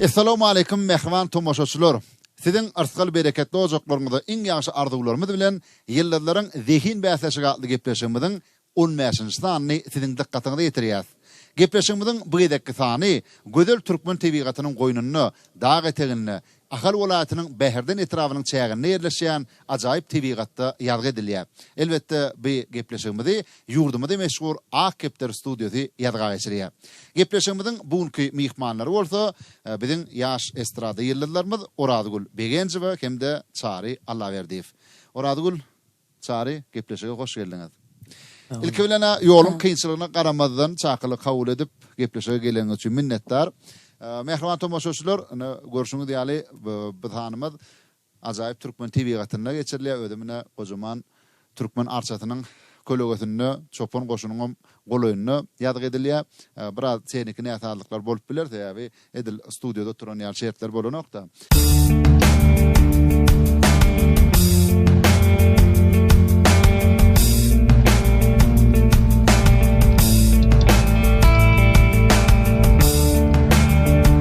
Essalawmaleýkum mähriban tomaşaçylar! Siziň yrsgal-bereketli ojaklaryňyza iň ýagşy arzuwlarymyz bilen Ýyldyzlaryň zehin bäsleşigi atly gepleşigimiziň on bäşinji sanyny siziň dykgatyňyza ýetirýäs. Gepleşigimiziň bu gezekki sany gözel türkmen tebigatynyň goýnunda, dag eteginde, Ahal welaýatynyň Bäherden etrabynyň çäginde ýerleşýän ajaýyp tebigatda ýazgy edilýär. Elbetde, bu gepleşigimizi ýurdumyzy meşhur Ak kepder studiýasy ýazga geçirýär. Gepleşigimiziň bu günki myhmanlary bolsa, biziň ýaş estrada ýyldyzlarymyz Orazgül Begenjowa hem-de Çary Allaberdiýew. Orazgül, Çary, gepleşige hoş geldiňiz. Ilki bilen-ä ýoluň kynçylygyna garamazdan çakylyk kabul edip, gepleşige geleniňiz üçin minnetdar. Mähriban tomaşaçylar, ine görşüňiz ýaly, biz hanymyz Ajaýyp türkmen tebigatynda geçirilýär. Özem ine gojaman Türkmen arçasynyň kölegesinde, çopan goşunyňam golaýynda ýazgy edilýär. Biraz tehniki näsazlyklar bolup biler, sebäbi edil studiýada oturan ýaly şertler bolanok-da.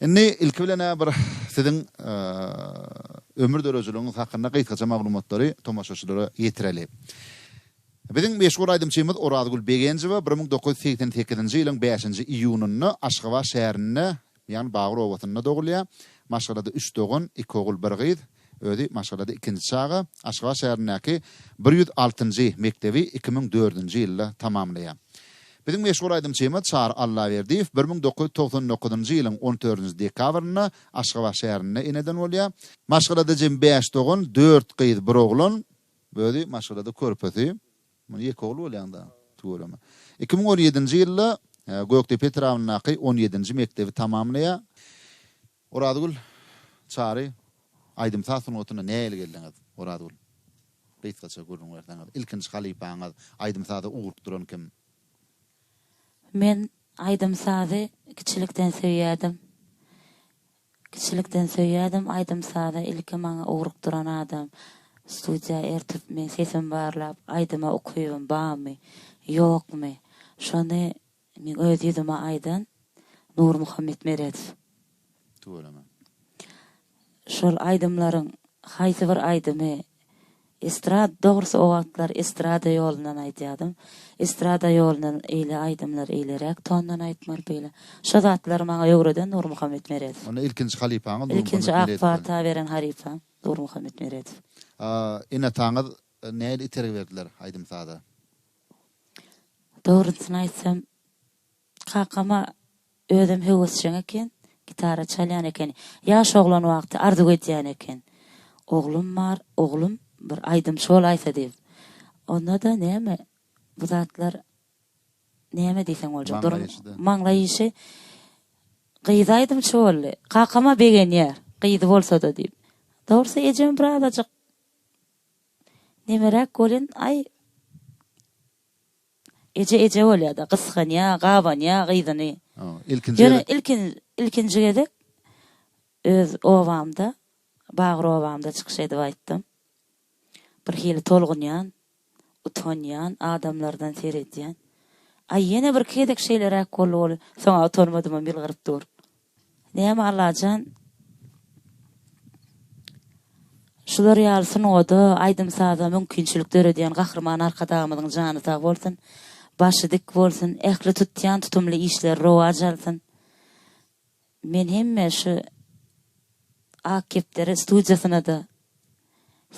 Indi ilki bilen-ä bir siziň ömür döredijiligiňiz hakynda gysgaça maglumatlary tomaşaçylara ýetireli. Biziň meşhur aýdymçymyz Orazgül Begenjowa bir müň dokuz ýüz segsen sekizinji ýylyň bäşinji iýunynda Aşgabat şäherinde, ýagny Bagyr obasynda dogulýar. Maşgalada üç dogan, iki ogul, bir gyz. Özi maşgalada ikinji çaga, Aşgabat şäherindäki bir ýüz altynjy mekdebi iki müň dördünji ýylda tamamlaýar. Biziň meşhur aýdymçymyz Çary Allaberdiýew bir müň dokuz ýüz togsan dokuzynjy ýylyň on dördünji dekabrynda Aşgabat şäherinde eneden bolýar. Maşgalada jemi bäş dogan, dört gyz, bir oglan. Özi maşgalada körpesi. Muny ýeke ogly bolýaňda tüweleme. Iki müň on ýedinji ýylda Gökdepe etrabyndaky on ýedinji mekdebi tamamlaýar. Orazgül, Çary, aýdym-saz sungatyna nähili geldiňiz? Orazgül, Gysgaça gürrüň berseňiz, ilkinji halypaňyz, aýdym-saza ugrukdyran kim? Men aýdym-sazy kiçilikden söýýärdim. Kiçilikden söýýärdim aýdym-sazy. Ilki maňa ugrukdyran adam, studiýa ertip, meň sesimi barlap, aýdyma ukybym barmy, ýokmy, şony Men öz ýüzüme aýdan Nurmuhammet Meredow. Tüweleme. Şol aýdymlaryň haýsy bir aýdymy estrad, dogrusy o wagtlar estrada ýolundan aýdýadym. Estrada ýolundan eýle aýdymlar eýleräk tondan aýtmaly beýle. Şo zatlary maňa öwreden Nurmuhammet Meredow. Onda ilkinji halypaňyz Nurmuhammet Meredow. Ilkinji ak pata beren halypam Nurmuhammet Meredow. Ene-ataňyz nähili itergi berdiler aýdym-saza? Dogrusyny aýtsam, kakama özem höwesjeň eken, gitara çalýan eken. Ýaş oglan wagty arzuw edýän eken. Oglum bar, oglum bir aýdymçy bolaýsa diýip. Onda-da näme, bu zatlar näme diýseň boljak, durum, maňlaý işi. Gyzy aýdymçy boldy. Kakam-a begenýär, gyzy bolsa-da diýip. Dogrusy ejem birazajyk Nemeräk bolýan aý Eje eje bolýada gysganýa gabanýa gyzyny ýöne ilkinji gezek öz obamda Bagyr obamda çykyş edip aýtdym birhili tolgunýan utanýan adamlardan seredýän aý ýene birki gezek şeýleräk boldy bolýa soňa utanmadymam ýylgyryp dur. Näme Allajan şular ýaly sungada aýdym saza mümkinçilik döredýän Gahryman Arkadagymyzyň jany sag bolsun başy dik bolsun ähli tutýan tutumly işleri rowaç alsyn men hemme şu Ak kepderi studiýasynada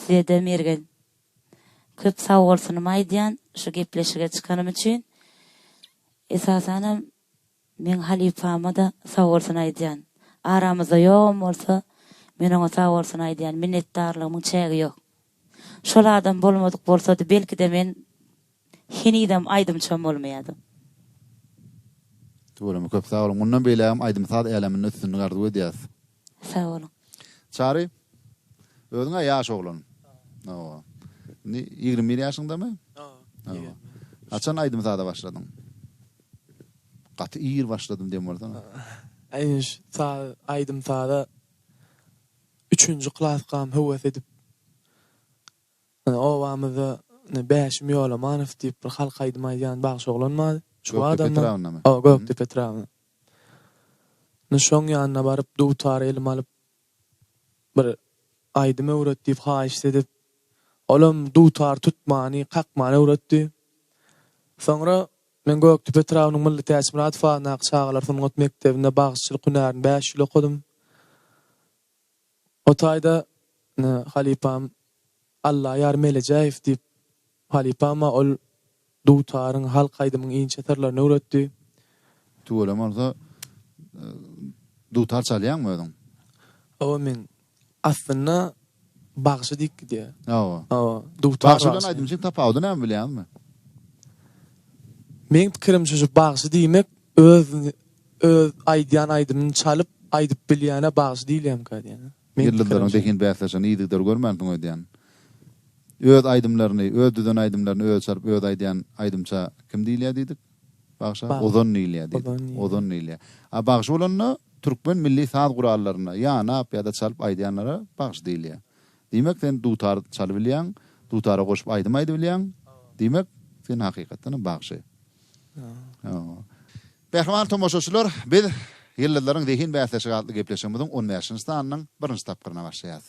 sizede mergen köp sag bolsunymy aýdýan şu gepleşige çykanym üçin esasanam Meň halypama-da sagbolsun aýdýan. Aramyzda ýogam bolsa, men oňa sagbolsun aýdýan, minnetdarlygymyň çägi ýok. Şol adam bolmadyk bolsady, belki-de men henizem aýdymçam bolmaýardym. Tüweleme köp sag boluň. Mundan beýlägem aýdym-saz äleminde üstünlik arzuw edýäs. Sag boluň. Çary, özüň-ä ýaş oglan. Hawa. Indi ýigrimi bir ýaşyňdamy? Hawa. Haçan aýdym-saza başladyň? Gaty ir başladym diýen bolsaň. Aýdyş, saz, aýdym-saza üçünji klasgam höwes edip, obamyzda Bäşim Ýolamanow diýip bir halk aýdymy aýdýan bagşy oglan bar. Gökdepe etrabynda. Hawa, Gökdepe etrabynda. Nyşoň ýanyna baryp, dutary elime alyp, bir aýdym öwret diýip haýyşt edip, olam dutar tutmany, kakmany öwretdi. Soňra men Gökdepe etrabynyň Mylly Täçmyradow adyndaky çagalar sungat mekdebinde bagşyçylyk hünärini bäş ýyl okadym. O taýda halypam Allaýar Melejäýew diýip, halypama ol dutaryň, halk aýdymyň inçe syrlaryny öwretdi. Tüweleme bolsa, dutar çalýaňmy özüň? Hawa, men. Aslynda bagşy diýip gidýär. Hawa. Hawa, dutar bagşy. Bagşy bilen aýdymçyň tapawudy näme bilýäňizmi? Meň pikirimçe şu bagşy diýmek Özüni öz aýdýan aýdymyny çalyp aýdyp bilýäne bagşy diýilýämka diýýän. Ýyldyzlaryň zehin bäsleşigini yzygider görmänsiň öýdýän. Öz aýdymlaryny, öz düzen aýdymlaryny özi çalyp özi aýdýan aýdymça kim diýilýär diýdik? Bagşa ozon diýilýär diýdik. Ozon diýilýär. A bagşy bolanda türkmen milli saz gurallaryny ýanap ýa-da çalyp aýdýanlara bagşy diýilýär. Diýmek sen dutar çalybilýäň, dutara goşup aýdym aýdybilýäň. Diýmek sen hakykatdanam bagşy. Mähriban tomaşaçylar, biz Ýyldyzlaryň zehin bäsleşigi atly gepleşigimiziň on bäşinji sanynyň birinji tapgyryna başlaýarys.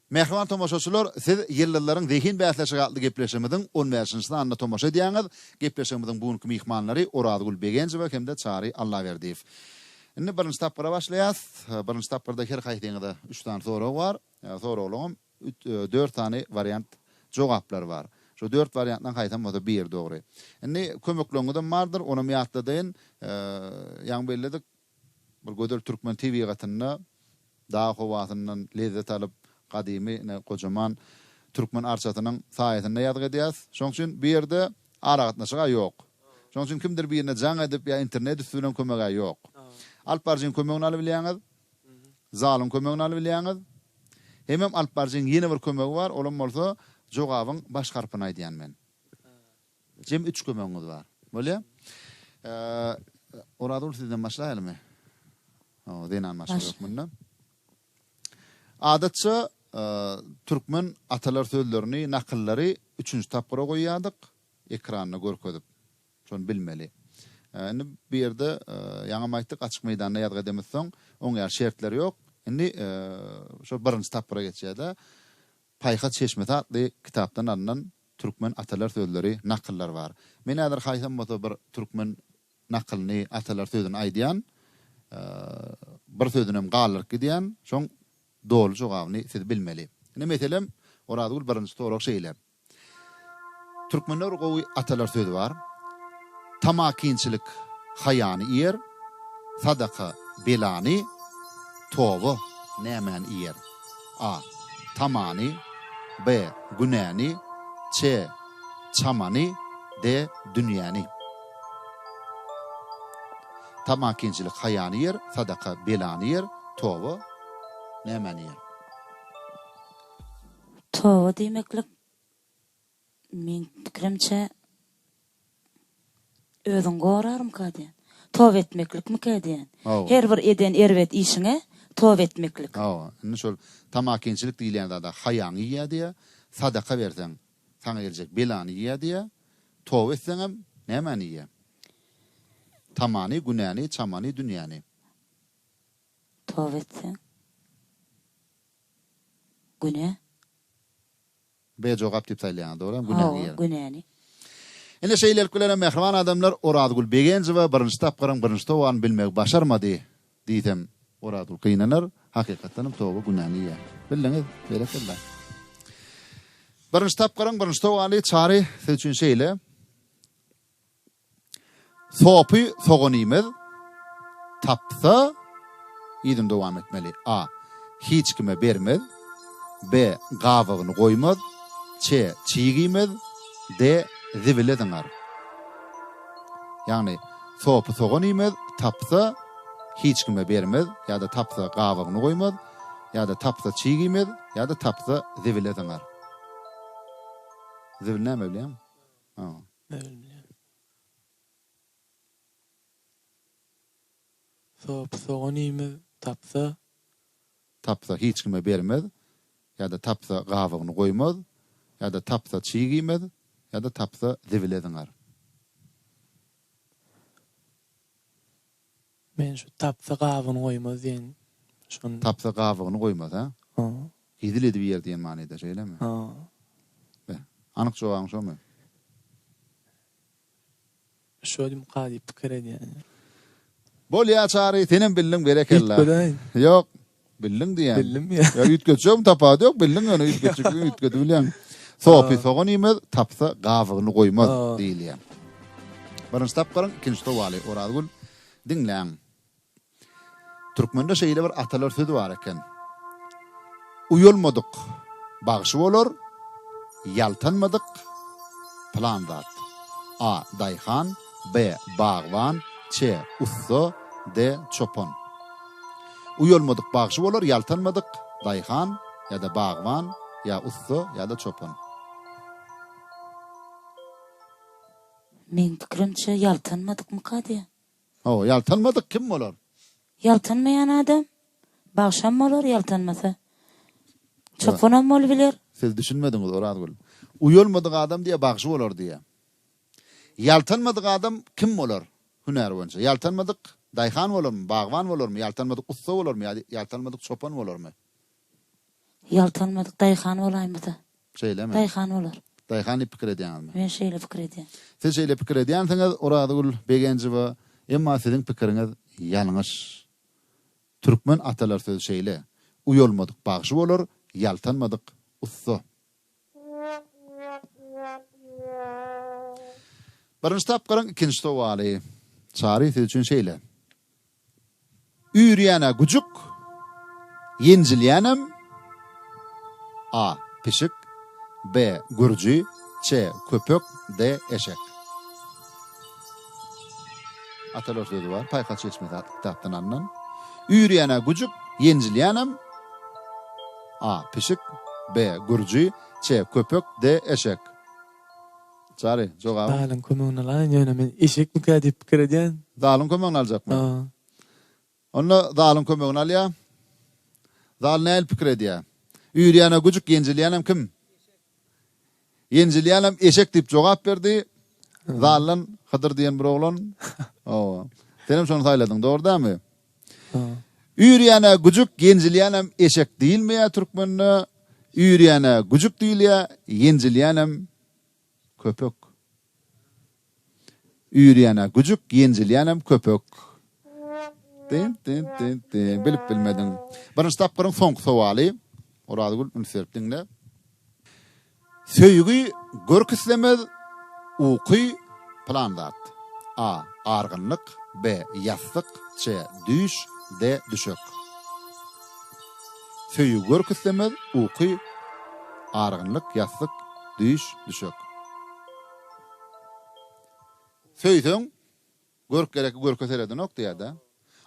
Mähriban tomaşaçylar, siz Ýyldyzlaryň zehin bäsleşigi atly gepleşigimiziň on bäşinji sanyna tomaşa edýäňiz. Gepleşigimiziň bu günki myhmanlary Orazgül Begenjewa hem-de Çary Allaberdiýew. Indi birinji tapgyra başlaýas. Birinji tapgyrda her haýsyňyza üç sany sorag bar. Soraglaryň üç, dört sany wariant jogaplary bar. Şu dört wariantdan haýsam bolsa biri dogry. Indi kömekleriňizem bardyr, onam ýatladaýyn. Ýaňy belledik, Bir gözel türkmen tebigatynda dag howasyndan lezzet alyp, gadymy ine gojaman türkmen arçasynyň saýasynda ýazgy edýäs. Şonuň üçin bu ýerde aragatnaşyk-a ýok. Şonuň üçin kimdir birine jaň edip ýa internet üsti bilen kömek-ä ýok. Alyp baryjyň kömegini alybilýäňiz, zalyň kömegini alybilýäňiz. Hemem alyp baryjyň ýene bir kömegi bar, olam bolsa jogabyň baş harpyny aýdýan men. Jem üç kömegiňiz bar. Bolýa. Orazgül sizden başlaýalymy? O, zenan başga ýok munda. Adatça türkmen atalar sözlerini, nakyllary üçünji tapgyra goýýardyk, ekranda görkezip. Şony bilmeli. Indi bu ýerde ýaňam aýtdyk, açyk meýdanda ýazgy edemizden soň, oň ýaly şertler ýok. Indi şo birinji tapgyra geçýär-de, Paýhas çeşmesi atly kitapdan alnan türkmen atalar sözleri, nakyllar bar. Men häzir haýsam bolsa bir türkmen nakylyny, atalar sözüni aýdýan, bir sözünem galdyryp gidýän, şoň doly jogabyny siz bilmeli. Indi meselem, Orazgül birinji sorag şeýle. Türkmende bir gowy atalar sözi bar. Tamakinçilik haýany iýer, sadaka belany, toba nämäni iýer? A. Tamany B. Günäni C. Çamany D. Dünýäni Tamakinçilik haýany ýer, sadaka belany ýer, toba nämäni ýer? Toba diýmeklik Meň pikirimçe, özüňi gorarmyka diýen. Toba etmeklikmika diýen. Hawa. Her bir eden erbet işiňe toba etmeklik. Hawa. Indi şol tamakinçilik diýilýän zada haýaňy iýýär diýýär. Sadaka berseň, saňa geljek belany iýýär diýýär. Toba etseňem, nämäni iýýär? Tamany, günäni, çamany, dünýäni. Toba etseň, günä. Be jogap diýip saýlaýaňyz dogryýam günäni ýygyn. Hawa günäni. Ine şeýlelik bilenem mähriban adamlar Orazgül Begenjowa birinji tapgyryň birinji tobaryny bilmegi başarmady diýsem Orazgül gynanar, hakykatdanam toba günäni ýyýar. Bildiňiz, berekella. Birinji tapgyryň birinji tobary Çary siz üçin şeýle. Sopy soganymyz tapsa, yzyny dowam etmeli, a. Hiç kime bermez, b. Gabygyny goýmaz, ç. Çigiýmez, d. Zibile zyňar. Ýagny, sopy soganymyz tapsa, hiç kime bermez, ýa-da tapsa, gabygyny goýmaz, ýa-da tapsa, çigiýmez, ýa-da tapsa, zibile zyňar. Zibil näme bilýäňmi? Sop, sogan iýmez, tapsa. Tapsa hiç kime bermez, ýa-da tapsa gabygyny goýmaz, ýa-da tapsa çyg iýmez, ýa-da tapsa zibile zyňar. Men şu tapsa gabyny goýmaz diýen şony. Tapsa gabygyny goýmaz ha? Ha. Hezil edip ýer diýen manyda şeýlemi? Ha. Be. Anyk jogabyň şomy? Şodimka diýip pikir edýän. Bolýa Çary senem bildiň berekella. Ýok. Bildiň diýýän. Bildim ýa. Ýa üýtgetjegem tapady ýok, bildiň ýöne üýtgetjekdigini üýtgedibilýäň. Sopy sogan iýmez, tapsa gabygyny goýmaz diýilýär. Birinji tapgyryň ikinji sowaly, Orazgül, diňläň. Türkmende şeýle bir atalar sözi bar eken. Uýalmadyk bagşy bolar, ýaltanmadyk pylan zat. A. Daýhan. B. Bagban Ç. Ussa D. Çopan Uýalmadyk bagşy bolar ýaltanmadyk daýhan ýa-da bagban ýa ussa ýa-da çopan. Meň pikirimçe ýaltanmadykmyka diýýän. Hawa, ýaltanmadyk kim bolar? Ýaltanmaýan adam bagşam bolar ýaltanmasa. Çopanam bolubiler. Siz düşünmediňiz Orazgül. Uýalmadyk adam diýýär bagşy bolar diýýär. Ýaltanmadyk adam kim bolar? Hünär boýunça. Ýaltanmadyk daýhan bolarmy, bagban bolarmy, ýaltanmadyk ussa bolarmy ýa-da ýaltanmadyk çopan bolarmy? Ýaltanmadyk daýhan bolaýmasa. Şeýlemi? Daýhan bolar. Daýhan diýip pikir edýäňizmi? Men şeýle pikir edýän. Siz şeýle pikir edýänsiňiz, Orazgül Begenjowa, emma siziň pikiriňiz ýalňyş. Türkmen atalar sözi şeýle, Uýalmadyk bagşy bolar, ýaltanmadyk ussa. Birinji tapgyryň ikinji sowaly. Çary siz üçin şeýle. Üýrýän-ä güjük, ýenjilýänem, A. Pişik, B. Gürji, C. Köpek, D. Eşek. Atalar sözi bar, Paýhas çeşmesi atly kitapdan alnan. Üýrýän-ä güjük, ýenjilýänem, A. Pişik, B. Gürji, Ç. Köpek, D. Eşek. Çary, jogabyň? Zalyň kömegini alaýyn, ýöne men eşekmikä diýip pikir edýän. Zalyň kömegini aljakmy? Hawa. Onda zalyň kömegini alýa. Zal nähili pikir edýä? Üýrýän-ä güjük, ýenjilýänem kim? Ýenjilýänem eşek diýip jogap berdi. Zaldan Hydyr diýen bir oglan. Hawa. Senem şony saýladyň, dogry dälmi? Üýrýän-ä güjük, ýenjilýänem eşek diýilmeýä türkmende. Üýrýän-ä güjük diýilýä, ýenjilýänem köpek. Üýrýän-ä güjük, ýenjilýänem köpek. Dyn, dyn, dyn, dyn. Bilip bilmediň. Birinji tapgyryň soňky sowaly. Orazgül, üns berip diňle. Söýgi görk islemez, uky plan zat. A. Argynlyk, B. Ýassyk, C. Düýş, D. Düşek. Söýgi görk islemez, uky, argynlyk, ýassyk, düýş, düşek. Söýseň, görk gerekki görke seredinok diýýär-de.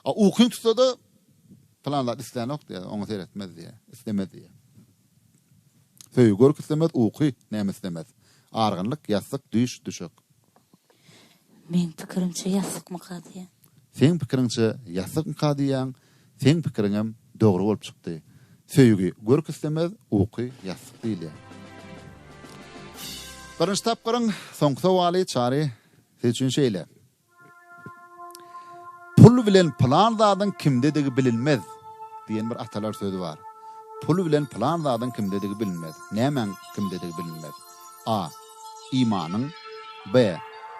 A ukyň tutsa-da, plan zat islänok diýýär, oňa seretmez diýýär, islemez diýýär. Söýgi görk islemez, uky, näme islemez? Argynlyk, ýassyk, düýş, düşek. Meň pikirimçe ýassykmyka diýýän. Seň pikiriňçe ýassykmyka diýýän, seň pikiriňem dogry bolup çykdy. Söýgi görk islemez, uky ýassyk diýilýär. Birinji tapgyryň soňky sowaly Çary siz üçin şeýle. Pul bilen pylan zadyň kimdedigi bilinmez diýen bir atalar sözi bar. Pul bilen pylan zadyň kimdedigi bilinmez. Nämäň kimdedigi bilinmez. A. Imanyň. B.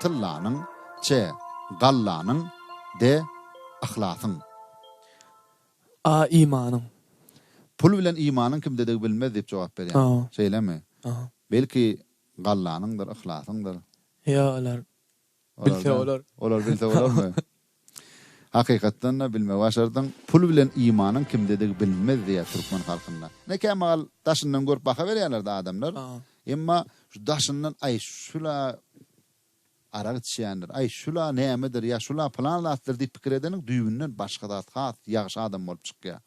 Tyllanyň. C. Gallanyň. D. Yhlasyň. A. Imanyň. Pul bilen imanyň kimdedigi bilinmez diýip jogap berýär. Şeýlemi? Belki gallanyňdyr, yhlasyňdyr. Ýa olar Bilse bolar. Olar bilse bolarmy? Hakykatdan-da bilme başardyň. Pul bilen imanyň kimdedigi bilinmez diýýär türkmen halkynda. Ine kämagal daşyndan görüp baha berýärler-de adamlar. Emma şu daşyndan aý şula arak içýändir, aý şula nämedir ýa şula pylan zatdyr diýip pikir edeniň düýbünden başga zat has ýagşy adam bolup çykýar.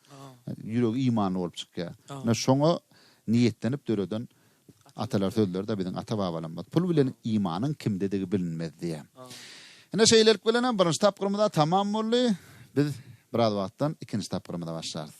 Ýüregi imanly bolup çykýar. Ine şoňa niýetlenip döreden Atalar sözleride biziň ata-babalarymyz pul bilen imanyň kimdedigi bilinmez diýýär. Ine şeýlelik bilen hem birinji tapgyrymyza tamam boldy. Biz biraz wagtdan ikinji tapgyrymyza başlarys.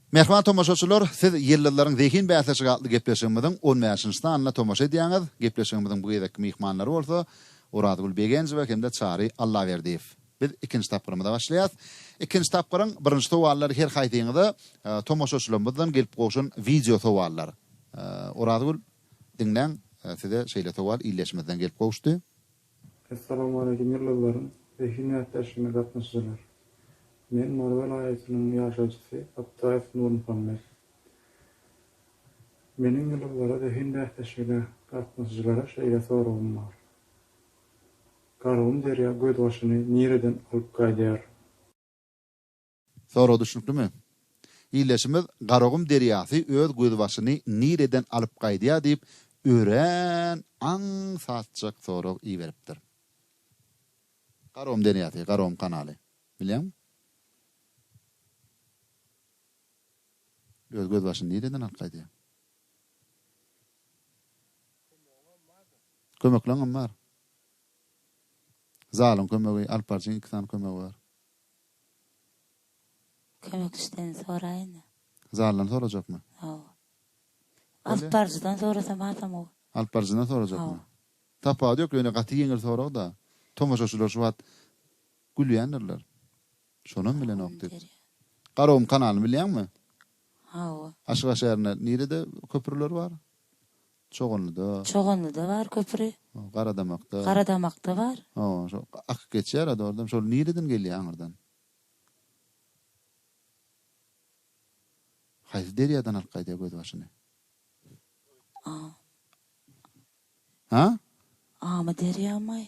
Mähriban tomaşaçylar, siz Ýyldyzlaryň zehin bäsleşigi atly gepleşigimiziň on bäşinji sanyna tomaşa edýäňiz. Gepleşigimiziň bu gezekki myhmanlary bolsa Orazgül Begenjowa hem-de Çary Allaberdiýew. Biz ikinji tapgyrymyza başlaýas. Ikinji tapgyryň birinji sowallary her haýsyňyza tomaşaçylarymyzdan gelip gowşan wideo sowallar. Orazgül, diňläň, size şeýle sowal ildeşimizden gelip gowuşdy. Essalowmaleýkim ýyldyzlaryň we himýat däşgine gatnaşyjylar! Men Mary welaýatynyň ýaşaýjysy Abtaýew Nurmuhammet. Meniň ýyldyzlara we himýat däşgine gatnaşyjylara şeýle soragym bar. Gargum derýa gözbaşyny nireden alyp gaýdýar? Sorag düşnüklimi? Ildeşimiz Garagum derýasy öz gözbaşyny nireden alyp gaýdýar diýip örän aňsatjak sorag iberipdir. Garagum derýasy, Garagum kanaly. Bilýäňmi? Öz gözbaşyny nireden alyp gaýdýar? Kömekleňem bar. Zalyň kömegi, alyp barjyň iki sany kömegi bar. Kömekçiden soraýyn-da. Zaldan sorajakmy? Hawa. Alyp baryjydan sorasam hasam gowy. Alyp baryjydan sorajakmy? Hawa. Tapawudy ýok, ýöne gaty ýeňil sorag-da. Tomaşaçylar şu wagt gülýändirler. Şonam bilenok diýip. Garagum kanalyny bilýäňmi? Hawa. Aşgabat şäherinde nirede köprüler bar? Çoganlyda. Çoganlyda bar köpri. Garadamakda. Garadamakda bar. Hawa, şo akyp geçýär-ä dogrudanam. Şol nireden gelýär aňyrdan? Haýsy derýadan alyp gaýdýar gözbaşyny? A. Ha? Amyderýamy?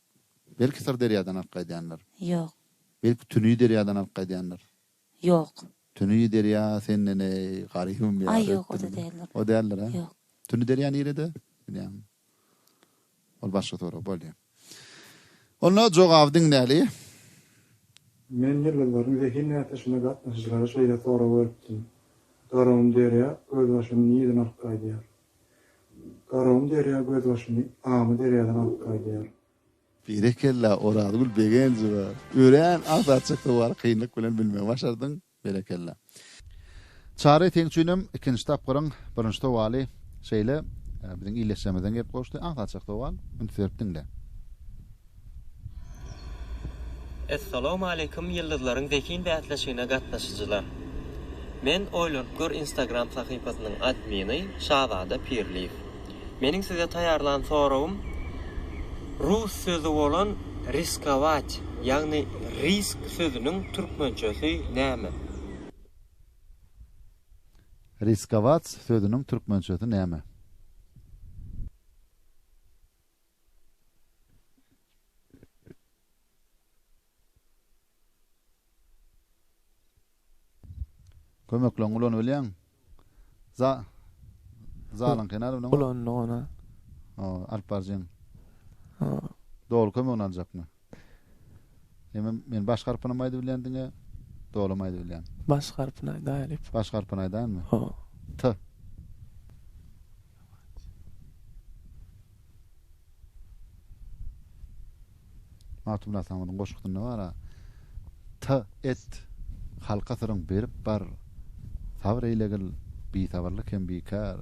Belki Syrderýadan alyp gaýdýandyr. Ýok. Belki Tüni derýadan alyp gaýdýandyr. Ýok. Tüni derýa senden eý, garybym ýar etdimi? Aý ýok, o-da däldir. O däldir, hä? Ýok. Tüni derýa nirede? Bilýäňmi? Ol başga sorag bolýa. Onda jogaby diňläli. Men ýyldyzlaryň zehin bäsleşigine gatnaşyjylara şeýle sorag beripdim. Garybym derýa öz başyny nireden alyp gaýdýar? Garagyň derýa gözbaşyny Aňy derýadan alyp gaýdýar. Berekella Orazgül Begenjowa! Örän azat çykdy bary kynlyk bilen bilmegi başardyň. Berekella. Çary seň üçinem ikinji tapgyryň birinji sowaly şeýle biziň illeşjemizden gelip gowuşdy. Azat çykdy owal üns berip diňle. Essalawmaleýkum ýyldyzlaryň zehin bäsleşigine gatnaşyjylar. Men Oýlanyp gör Instagram sahypasynyň admini Şazada Pirliýew. Meniň size taýýarlan soragym rus sözi bolan riskovać ýagny risk sözüniň türkmençesi näme? Riskovats sözüniň türkmençesi näme? Kömekleň ulan ölýäň. Za Zalyň kenar ulan. Ulan ona. O, alyp barjyň. O. Dogry kömegini aljakmy? Emma men baş harpynam aýdyp bilýän diňe dolam aýdyp bilýän. Baş harpyny aýdaýalyp. Baş harpyny aýdaýanmy? Ho. T. Magtymguly Atamyzyň goşgusynda bar-a. T et halka syryň berip bar. Sabr eýlegil bisabyrlyk hem bikär.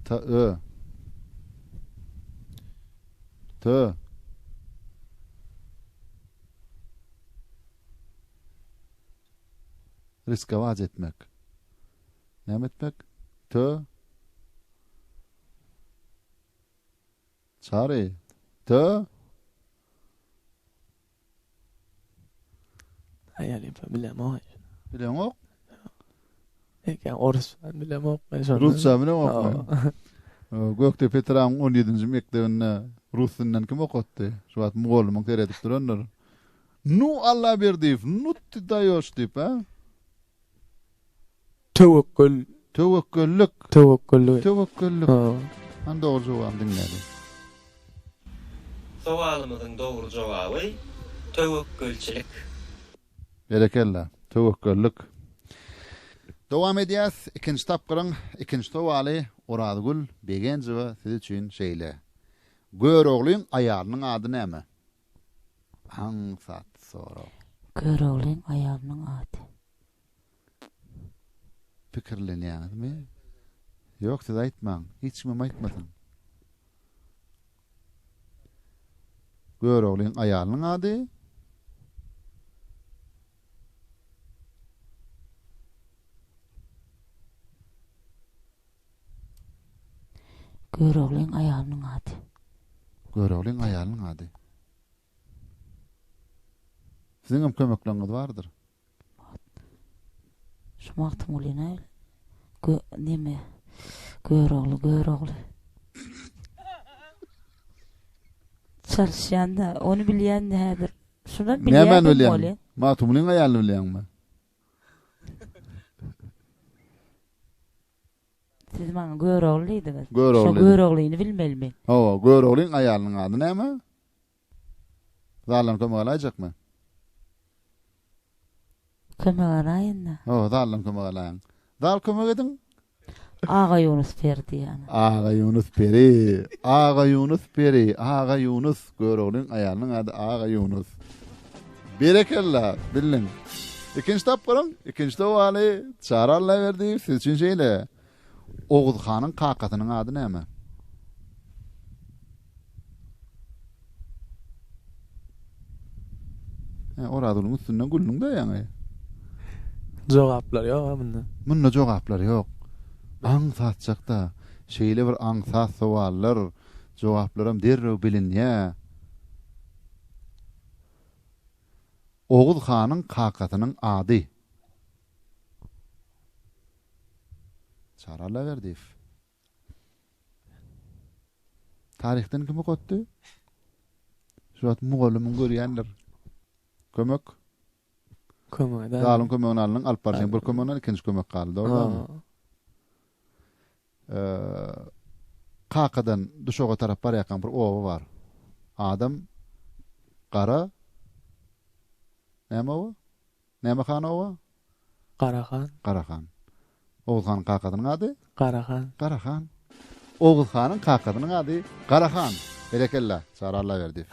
T ö. Tö. Riskowac etmek. Näme etmek? Tö. Çary. Tö. Aýalypa bilemok. Bileňok? Eken orusça bilemok men şonda. Rusça bilemok men. Gökdepe Tramyň 17-nji mekdebinde rus dilinden kim okatdy? Şu wagt mugallymyň seredip durandyr. Nu Allaberdiýew, nu ty daýoş diýip, ha? Töwekgül. Töwekgüllik. Töwekgüllik. Töwekgüllik. Hä. Hany dogry jogabyny diňläliň. Sowalymyzyň dogry jogaby töwekgülçilik. Berekella. Töwekgüllik. Dowam edýäs. Ikinji tapgyryň ikinji sowaly Orazgül Begenjowa siz üçin şeýle. Göroglyň aýalynyň ady näme? Aňsat sorag. Göroglyň aýalynyň ady. Pikirlenýäňizmi? Ýok, siz aýtmaň. Hiç kimem aýtmasyn. Göroglyň aýalynyň ady. Göroglyň aýalynyň ady. Göroglyň aýalynyň ady. Siziň hem kömekleňňiz bardyr. Şu Magtymgulyny gö neme Görogly Görogly. Çalyşýan-da, ony bilýän-de häzir. Şuny bilýän bolýa. Magtymgulyň aýalyny bilýäňmi? Siz maňa Görogly diýdiňiz. Görogly. Şo Göroglyny bilmelimi? Hawa, Göroglyň aýalynyň ady näme? Zalan kömek alaýjakmy? Kömek alaýyn-da. Hawa, zaldan kömek alaýyň. Zal kömek ediň, Agaýunus peri diýýän. Agaýunus peri, Agaýunus peri, Agaýunus. Göroglyň aýalynyň ady Agaýunus. Berekella, bildiň. Ikinji tapgyryň, ikinji sowaly, Çary Allaberdi, siz üçin şeýle. Oguz hanyň kakasynyň ady näme? He, Orazgulyň üstünden güldiň-dä ýaňy. Jogaplar ýog-a munda. Munda jogaplar ýok. Aň satjak-da. Şeýle bir aňsat sowallar, jogaplaram derrew bilinýä. Oguz hanyň kakasynyň ady. Çary Allaberdiýew. Taryhdan kim okatdy? Şu wagt mugallymyň görýändir. Kömek. Kömek. Galyň kömegini alnyň, alyp barsaň bir kömegini, ikinji kömek galdy, dogrumy? Eee Kakadan düşoga tarap barýarkan bir oba bar. Adam gara näme o? Näme han oba? Gara han. Gara han. Oguz hanyň kakasynyň ady? Gara han. Gara han. Oguz hanyň kakasynyň ady Gara han. Berekella, Çary Allaberdiýew.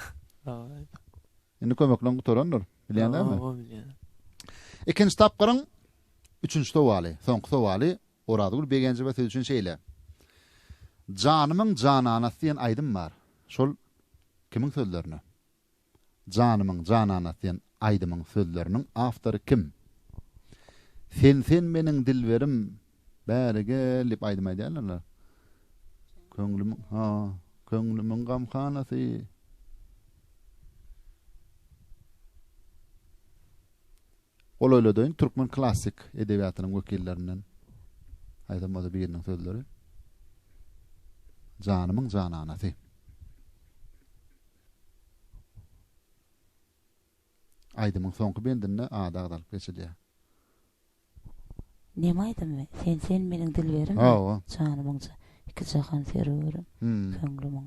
Sag Indi kömekleň gutarandyr. Bilýäňmi? Oba bilýän. Ikinji tapgyryň üçünji sowaly, soňky sowaly Orazgül Begenjewa siz üçin şeýle. Janymyň jananasy diýen aýdym bar. Şol kimiň sözlerine? Janymyň janana sen aýdymyň sözleriniň awtory kim? Sen sen meniň dilberim bäri gel diýip aýdym aýdýarlarlar. Köňlümiň ha, köňlümiň gamhanasy. Golaýladaýyn türkmen klassyk edebiýatynyň wekillerinden haýsam bolsa biriniň sözleri. Janymyň jananasy. Aýdymyň soňky bendinde ady agzalyp geçilýär. Neme aýdymy? Sen sen meniň dilberimmi? Hawa. Janymyň ja iki jahan serwerim. Köňlümiň.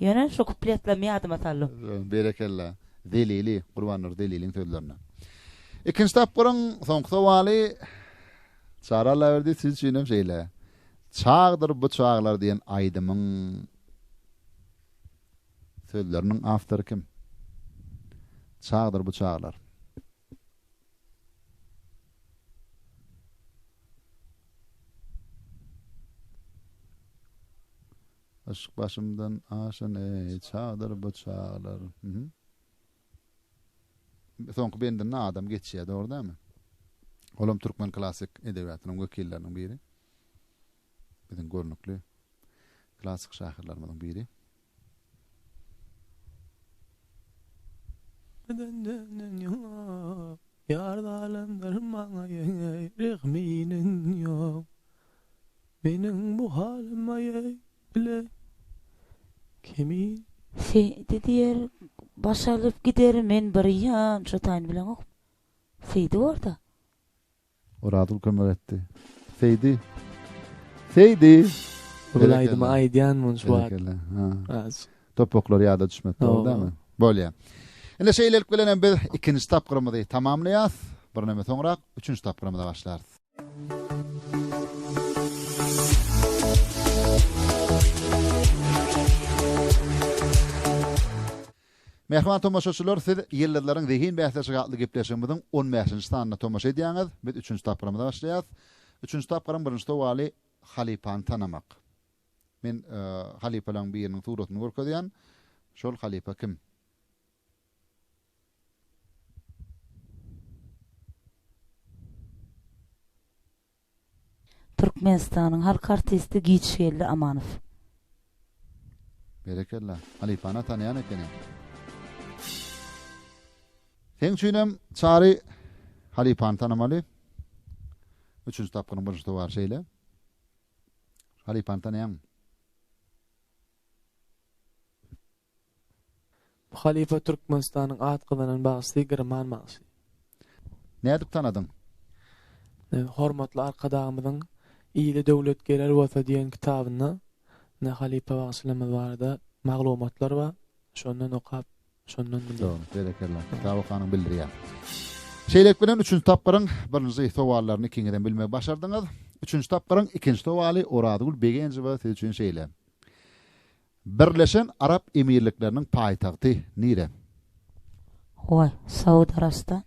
Ýöne şu kupletlerimi ýadyma saldym. Berekella. Zelili, Gurbannur Zeliliň sözlerine. Ikinji tapgyryň soňky sowaly Çary Allaberdi siz üçin hem şeýle. Çagdyr bu çaglar diýen aýdymyň sözleriniň awtory kim? Çagdyr bu çaglar. Yşk başymdan aşyn eý çagdyr bu çaglar. Soňky bendinde adam geçýär, dogry dälmi? Olam türkmen klassyk edebiýatynyň wekilleriniň biri. Biziň görnükli klassyk şahyrlarymyzyň biri. Ýar zalimdir maňa ýeňe rehminiň ýok. Meniň bu halyma ýeý ile kimin. Seýdi diýer baş alyp gider men bir ýan şo taýyny bileňok Seýdi borda. Orazgül kömek etdi. Seýdi. Seýdi. Bul aýdymy aýdýan munç wagt. Berekella. Topaklar ýada düşmedi dogrymy? Bolýa. Ine şeýlelik bilen hem biz ikinji tapgyrymyzy tamamlaýas. Bir näme soňrak üçünji tapgyrymyza başlarys. Mähriban tomaşaçylar, siz Ýyldyzlaryň zehin bäsleşigi atly gepleşigimiziň 15-nji sanyna tomaşa edýäňiz. Biz üçünji tapgyrymyza başlaýarys. Üçünji tapgyryň birinji sowaly halypany tanamak. Men e, halypalaryň biriniň suratyny görkezýän. Şol halypa kim? Türkmenistanyň halk artisti Giçgeldi Amanow. Berekella. Halypana tanaýan ekeniň. Seň üçinem Çary halypany tanamaly. Üçünji tapgyryň birinji towary şeýle. Halypany tanaýaňmy? Bu halypa Türkmenistanyň at gazanan bagşysy Girman bagşy. Nädip tanadyň? Hormatly Arkadagymyzyň Ile döwlet gerer bolsa diýen kitabynda ine halypa bagşylarymyz barada maglumatlar bar. Şondan okap, şondan bildim. Dogry, berekella. Kitap okanyň bildirýär. Şeýlelik bilen üçünji tapgyryň birinji sowallaryny ikiňizem bilmegi başardyňyz. Üçünji tapgyryň ikinji sowaly Orazgül Begenjowa siz üçin şeýle. Birleşen Arap Emirlikleriniň paýtagty nire? Howa, Saud Arabystan.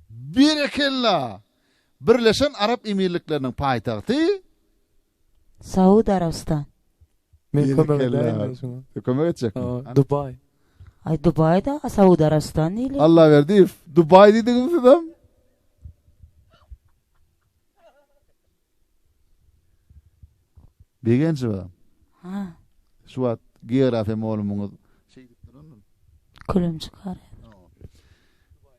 Berekella! Birleşen Arap Emirlikleriniň paýtagty? Saud Arabystan. Men kömek edäýin indi şuňa. Kömek etjekmi? Hawa, Dubaý. Aý, Dubaý-da Saud Arabystan diýilýär. Allaberdiýew, Dubaý diýdiňmi sizem? Begenjowa. Ha. Şu wagt geografiýa molumyňyz şeýdip durandyr. Külüm çykar.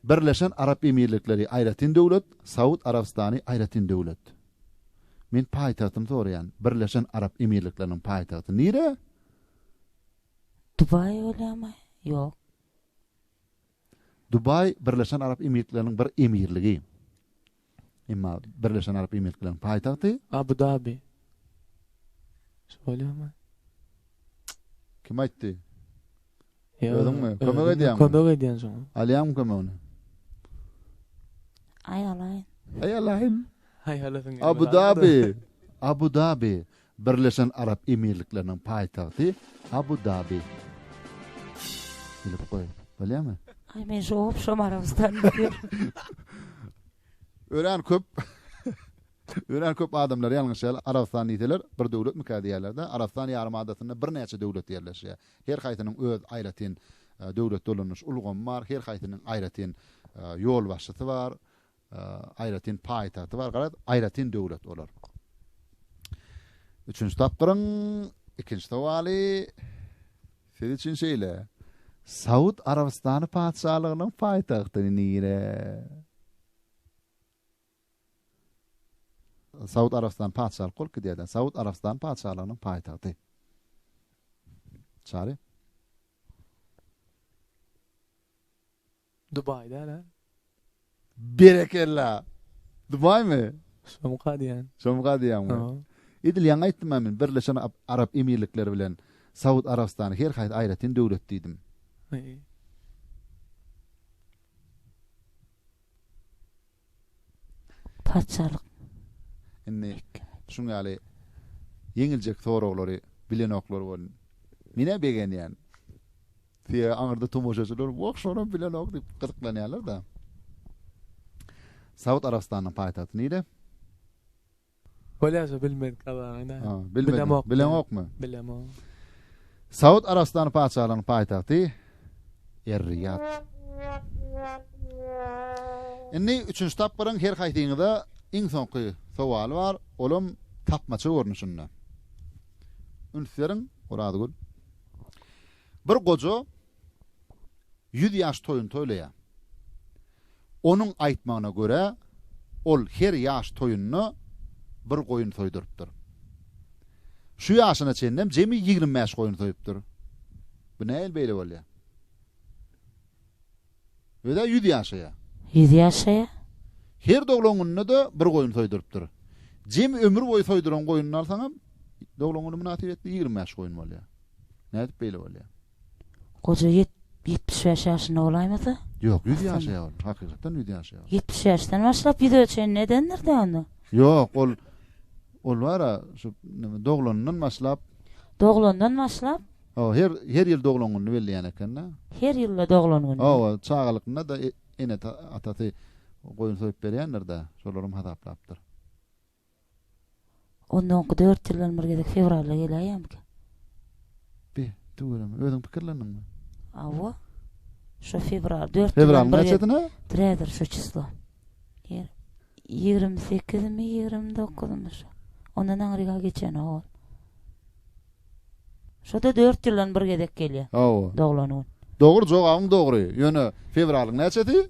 Birleşen Arap Emirlikleri aýratyn döwlet, Saud Arabystany aýratyn döwlet. Men paýtagtyny soraýan. Birleşen Arap Emirlikleriniň paýtagty nire? Dubaý bolýamy? Ýok. Dubaý Birleşen Arap Emirlikleriniň bir emirligi. Emma Birleşen Arap Emirlikleriniň paýtagty Abu Dabi. Şolýamy? Kim aýtdy? Özüňmi? Kömek edýäňmi? Kömek edýän şoň. Alýaňmy kömegini? Aý alaýyn. Aý alaýyn. Aý alaýyn. Abu Dabi. Abu Dabi. Birleşen Arap Emirlikleriniň paýtagty Abu Dabi. Bilip goý. Bolýamy? Aý men şu obşam Arabystan diýip. Örän köp Örän köp adamlar ýalňyş ýaly Arabystan diýseler bir döwletmikä diýýärler-de, Arabystan ýarym adasynda birnäçe döwlet ýerleşýär. Her haýsynyň öz aýratyn döwlet dolanyş ulgamy bar, her haýsynyň aýratyn ýolbaşçysy bar, Aýratyn paýtagty bar garaz, aýratyn döwlet olar. Üçünji tapgyryň ikinji sowaly siz üçin şeýle. Saud Arabystany patyşalygynyň paýtagty nire? Saud Arabystany patyşalyk bolup gidýärdi. Saud Arabystany patyşalygynyň paýtagty. Çary. Dubai däl-ä? Berekella! Dubaýmy? Şomka diýýän. Şomka diýýäňmi? Hawa. Edil ýaňy aýtdym-a men, Birleşen Arap Emirlikleri bilen Saud Arabystany her haýsy aýratyn döwlet diýdim. Haý. Paçalyk. Indi şuň ýaly ýeňiljek soraglary bilenoklar bolun. Men-ä begenýän. Sebäbi aňyrda tomaşaçylar wah şonam bilenok diýip gyzyklanýarlar-da. Saud Arabystanynyň paýtagty nire? Bolýaja bilmedik Allaňyň-a. Ha, bilmedim. Bileňokmy? Bilemok. Saud Arabystany patyşalygynyň paýtagty Er-Riýad. Indi üçünji tapgyryň her haýsyňyza iň soňky sowaly bar, olam tapmaça görnüşinde. Üns beriň, Orazgül. Bir goja Ýüz ýaş toýuny toýlaýar. Onuň aýtmagyna görä, ol her ýaş toýunda bir goýun soýdurypdyr. Şu ýaşyna çenlem jemi ýigrimi bäş goýun soýupdyr. Bu nähili beýle bolýar? Öz-ä ýüz ýaşaýar. Ýüz ýaşaýar. Her doglan gününde-de bir goýun soýdurypdyr. Jemi ömür boýy soýduran goýunyny alsaňam, doglan güni mynasybetli ýigrimi bäş goýun bolýar. Nädip beýle bolýar? Goja ýet, ýetmiş bäş ýaşynda bolaýmasa? Ýok, ýüz ýaşaýar ol. Hakykatdan ýüz ýaşaýar ol. Ýetmiş bäşden başlap ýüze çenli edendir-dä onda? Ýok, ol, ol bar-a, şu nime, doglanyndan başlap. Doglandan başlap? Hawa, her, her ýyl doglan gününi belleýän eken-dä. Her ýylda doglan gününi? Hawa, çagalykynda-da e, ene, atasy goýun soýup berýändir-dä, şolarym hasaplapdyr. Onda oňky dört ýyldan bir gezek fewralda geläýýärmikä? Be, tüweleme. Özüň pikirlendiňmi? Hawa. Şo fewral, dört ýyldan bir gezek. Fewralyň näçesine? Drädir şo çyslo. Ýer, ýigrimi sekizimi, ýigrimi dokuzumi şo. Ondan aňryk-a geçenok ol. Şo-da dört ýyldan bir gezek gelýär. Hawa. Doglan gün. Dogry, jogabyň dogry. Ýöne fewralyň näçesi?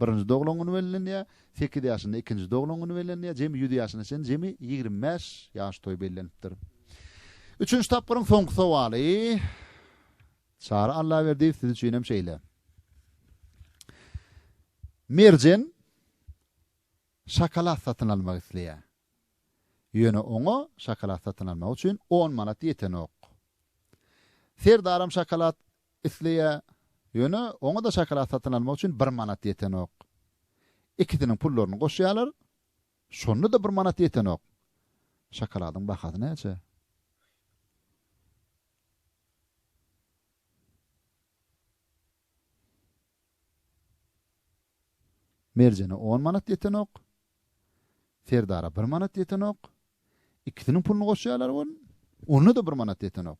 Birinji doglan güni bellenilýär, sekiz ýaşynda ikinji doglan güni bellenilýär, jemi ýüz ýaşyna çenli jemi ýigrimi bäş ýaş toýy bellenipdir. Üçünji tapgyryň soňky sowaly. Çary Allaberdiýew siz üçin hem şeýle. Merjen şokolad satyn almak isleýär. Ýöne oňa şokolad satyn almak üçin on manat ýetenok. Serdaram şokolad Isleýär, ýöne oňa-da şokolad satyn almak üçin bir manat ýetenok. Ikisiniň pullaryny goşýarlar, şonda-da bir manat ýetenok. Şokoladyň bahasy näçe? Merjene on manat ýetenok. Serdara bir manat ýetenok. Ikisiniň puluny goşýarlar welin, onda-da bir manat ýetenok.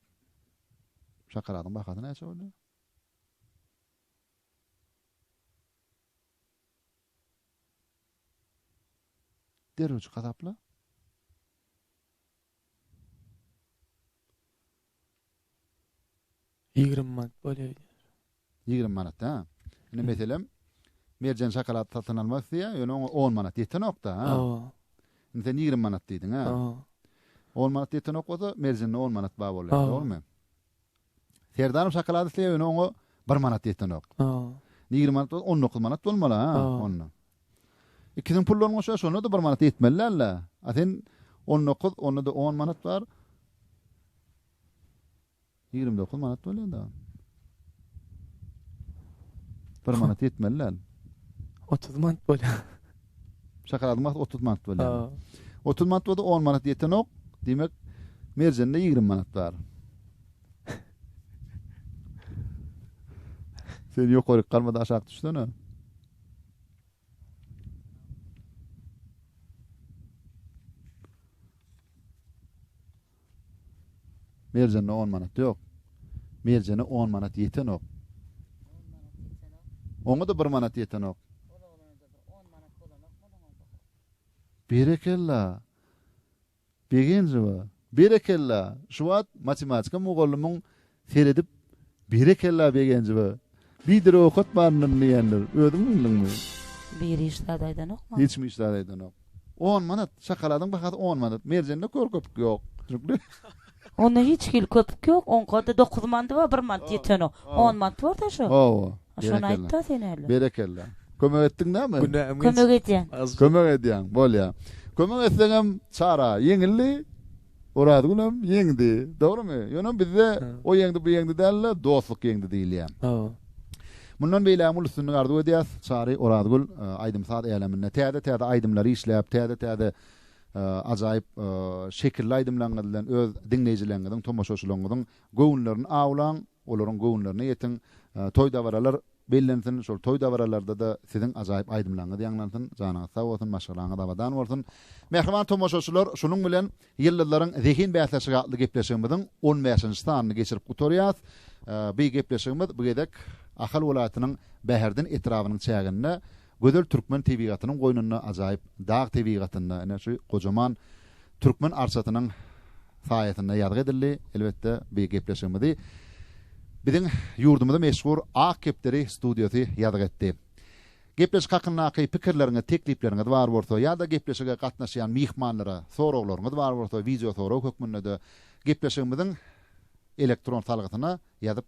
Şokoladyň bahasy näçe boldy? Derrewçi hasapla. Ýigrimi manat bolýar diýýär. Ýigrimi manat, ha? Indi meselem, Merjen şokolad satyn almak isleýär, ýöne oňa on manat ýetenok-da, ha? Hawa. Indi sen ýigrimi manat diýdiň, ha? Hawa. On manat ýetenok bolsa, Merjende on manat bar bolýar, dogrumy? Serdaryň şokolady isleýäwene oňa bir manat ýetenok. Ýigrimi manat bolsa on dokuz manat bolmaly ha onda. Ikisiniň pullaryny goşýar, şonda-da bir manat ýetmeli däl-le. A sen on dokuz, onda-da on manat bar. Ýigrimi dokuz manat bolýar-da. Bir manat ýetmeli däl. Otuz manat bolýar. Şokoladyň bahasy otuz manat bolýar. Otuz manat bolsa on manat ýetenok. Diýmek, merjende ýigrimi manat bar. Sen ýokaryk galmada aşak düşsene. Merjende on manat ýok. Merjene on manat ýetenok. On manat ýetenok. Oňa-da bir manat ýetenok. Ol oglana-da bir on manat bolanokmy onuň onda hol? Berekella! Begenjowa, berekella! Şu wagt matematika mugallymyň Seredip Berekella Begenjowa. Bidir owkat baryndan diýendir. Özüň bildiňmi? Biri hiç zat aýdanokmy? Hiçmi hiç zat aýdanok. On manat. Şokoladyň bahasy on manat. Merjende kör köpük ýok. Düşnükli? Onda hiç hili köpük ýok. Oňkada dokuz mandy bar, bir mant ýetenok. On mant bar-da şo. Hawa. Şony aýt-da sen häli. Berekella. Kömek etdiň näme? Kömek edýän. Kömek edýäň. Bolýar. Kömek etseňem çara ýeňildi. Orazgülem ýeňdi, dogrymy? Ýöne bizde o ýeňdi, bu ýeňdi däl-de, dostluk ýeňdi diýilýär. Mundan beýlägem uly üstünlik arzuw edýäs. Çary Orazgül aýdym-saz äleminde täze-täze aýdymlary işläp, täze-täze ajaýyp şekilli aýdymlaryňyz bilen öz diňleýjileriňiziň, tomaşaçylaryňyzyň göwünlerini awlaň. Olaryň göwünlerine ýetiň. Toý-dabaralar bellensin. Şol toý-dabaralarda-da siziň ajaýyp aýdymlaryňyz ýaňlansyn. Janyňyz sag bolsun, maşgalaňyz abadan bolsun. Mähriban tomaşaçylar, şunuň bilen Ýyldyzlaryň zehin bäsleşigi atly gepleşigimiziň on bäşinji sanyny geçirip gutarýas. Bi gepleşigimiz bu gezek Ahal welaýatynyň Bäherden etrabynyň çäginde Gözel türkmen tebigatynyň goýnunda ajaýyp dag tebigatynda ine şu gojaman türkmen arçasynyň saýasynda ýazgy edildi. Elbetde bu gepleşigimizi biziň ýurdumyzy meşhur Ak kepderi studiýasy ýazgy etdi. Gepleşik hakyndaky pikirleriňiz, teklipleriňiz bar bolsa ýa-da gepleşige gatnaşýan myhmanlara soraglaryňyz bar bolsa wideo sorag hökmünde-de gepleşigimiziň elektron salgysyna ýazyp